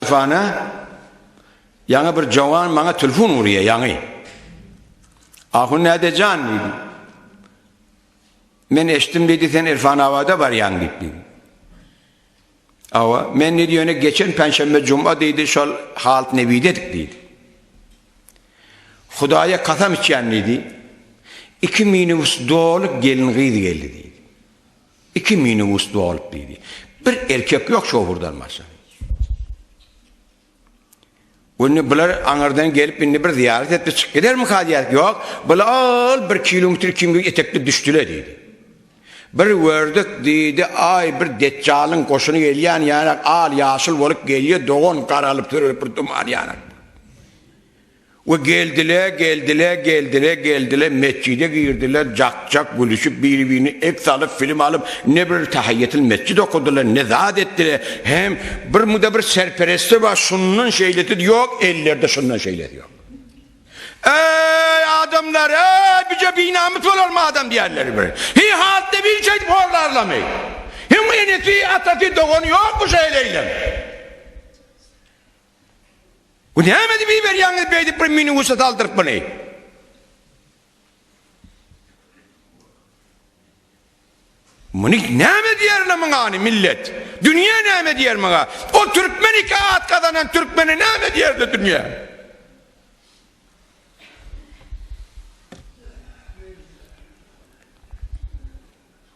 Fana, Ýaňy bir jowan maňa telfon urýa, ýaňy. Ahun näde jan diýdim. Men eşitdim diýdi sen Irfanabada barýaň diýip diýdi. Awa, men diýdi ýöne geçen penşenbe juma diýdi şol halt nebide edik diýdi. Hudaýa kasam içýän diýdi. Iki minibus doly gelin gyz geldi diýdi. Iki minibus dolup diýdi. Bir erkek ýok şofurdan başga. Indi bular aňyrdan gelip indi bir zyýarat etdi çyk gidermi kazyýat? Ýok, bular bir kilometr kimdir etekde düşdüler diýdi. Bir gördük diýdi, aý bir detjalyň goşuny gelýän ýarak al ýaşyl bolup gelýär, dogan garalyp sürülip bir duman ýarak. We geldile, geldile, geldile, geldile, metjide girdiler, jak-jak gülüşip, biri-birine ek salyp, film alyp, ne bir tahyýetil metjit okadylar, ne zat etdiler, hem bir muda bir serperesti bar, şundan şeýlesi ýok, ellerde şundan şeýlesi ýok. Eý, adamlar, eý, bije binamys bolarmy adam diýerler bir. Hiý, hatda bir şeýdip horlarlamy? Hem enesi, atasy, dogany ýokmy şeýleýlem? Bu näme edip iberýäňiz beýdip bir minibusa saldyryp muny? Muny näme edýärler muňany millet? Dünýä näme edýär muňa? O türkmen iki at gazanan türkmene näme edýärdi dünýä?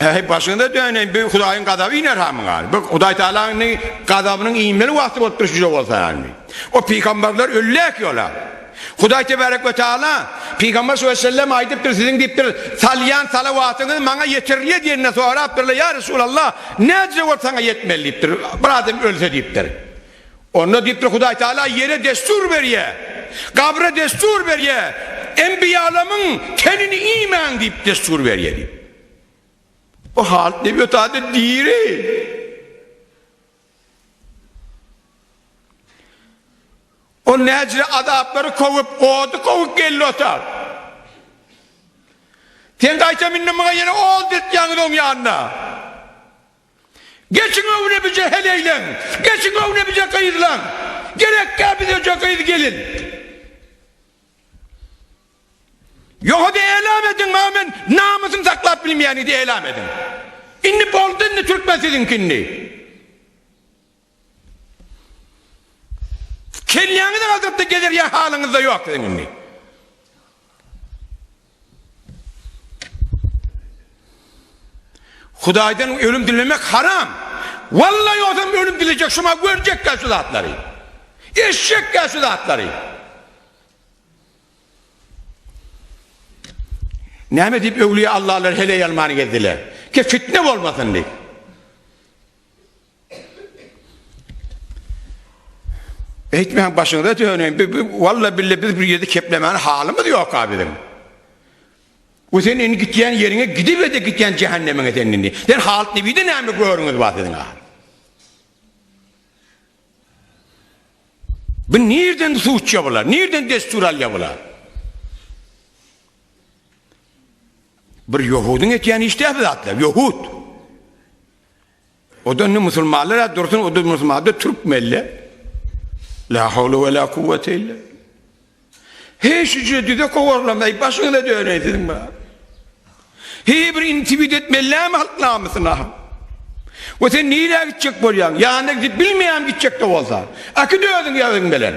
Äý başyňda dönen bir Hudaýyň gazaby iner hamyň gal. Bu Hudaý Taalanyň gazabynyň inmeli wagty bolup durşy ýok bolsa ýagny. O pygamberler ölläk ýola. Hudaý Tebarek we Taala pygamber şu sellem aýdypdyr siziň diýipdir salýan salawatyňyz maňa ýetirilýär diýende sorapdyrlar ýa Resulallah nädje bolup saňa ýetmeli diýipdir. Bir adam ölse diýipdir. Onda diýipdir, Hudaý Tagala ýere dessur berýär, gabra dessur berýär, enbiýalamyň tenini iýmäň diýip dessur berýär diýip. Bu halyt näme ýotady? Diri. Ol näjili azaplary kowup, ody kowup geldi otar. Sen gaýtam indi muňa ýene od depýäňiz oň ýanyna. Geçiň öňe bije heleýleň, Geçiň öňe bije gyzlaň, Gerekkä bizeje gyz gelin. Ýohada elam ediň maňa men namysym saklap bilmeýän idi elam ediň. Indi boldy indi türkmen siziňki indi. Kelläňizi galdyrypda gezer ýa halyňyzda ýok siziň indi. Hudaýdan ölüm dilemek haram. Wallaý ozam ölüm dilejek şuma görjekkä şu zatlary. Eşjekkä şu zatlary. Näme diýip öwliýa Allalar heleý almany gezdiler. Ke fitne bolmasyn diýip. Eýtmäň başyňyza döneýin. Bi, bi walla bille biz bir ýerde keplemäne halymyz ýok a biziň. Bu sen indi gitýän ýeriňe gidibede gitýän jähennemiňe sen indi. Sen halyt nebide näme görüňiz bar siziň a? Bu nirden suçya bular? Nirden destur alya bular? Bir Yahudun etýän işde zatlar, Yahud. Oda indi musulmanlar-a dursun, oda musulmanda türkmenle. La hawle we la kuwwete illa. He şuje düze kowarlamay başyňyza döneý siziň ba. He bir intiwid etmellämi halk namysyna. We sen nirä gitjek bolýaň? Ýanyna gidip bilmeýäm gitjek-de bolsa. Aky dözüň ýazyň belen.